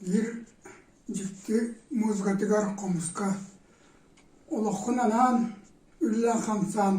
Биир дьикти музыкатыгар хомуска олоххун анаан, үллээн-хамсаан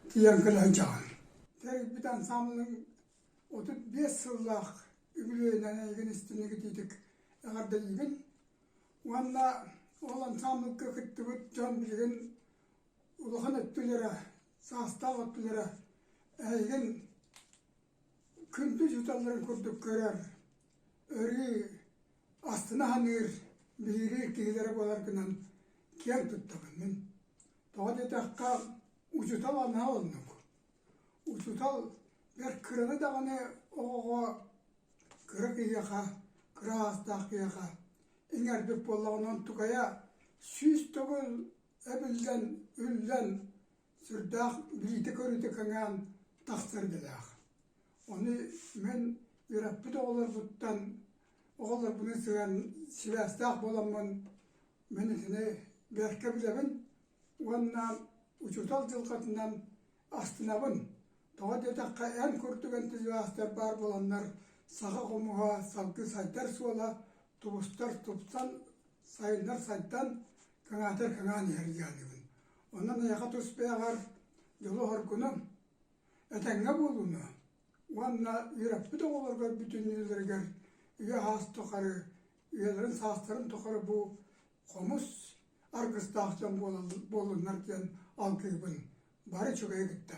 тиийэн кэлэ сылдьаҕын. Тэрийбит ансаамбылыҥ отут биэс сыллаах үбүлүөйүнэн эйигин истиҥ ититик эҕэрдэлиибин уонна ол ансаамбылга кыттыбыт дьон билигин улахан өттүлэрэ, саастаах өттүлэрэ эһигин Күндү учууталларын курдук көрөр, өрүү астына саныыр, билиилиир киһилэрэ буолар гынан киэн туттабын мин. Тоҕо диэтэххэ, учуутал анаа оннук. Учуутал бэрт кыраны даҕаны оҕоҕо кыра киһиэхэ, кыра саастаах киһиэхэ иҥэрбит буоллаҕына, онтукайа сүүс төгүл эбиллэн, үллэн сүрдээх билиитэ-көрүүтэ кэҥээн тахсар идэлээх. Ону мин үөрэппит оҕолорбуттан оҕолорбунан сыһыан сибээстээх буоламмын мин итини бэркэ билэбин уонна учуутал дьылҕатынан астынабын. Тоҕо диэтэххэ эн курдук энтузиастар баар буоланнар саха хомуһа салгыы сайдар суола тубустар тупсан сайыннар сайдан кыҥаатар кыҥаан иһэр диэҕинибин. Онон эйэҕэ тустааҕар дьолу-хоргуну, этэҥҥэ буолууну уонна үөрэппит оҕолоргор бүтүннүүлэригэр үйэ-саас тухары үйэлэрин саастарын тухары бу хомус аргыстаах дьон буолуннар диэн алгыыбын бары үчүгэйи кытта.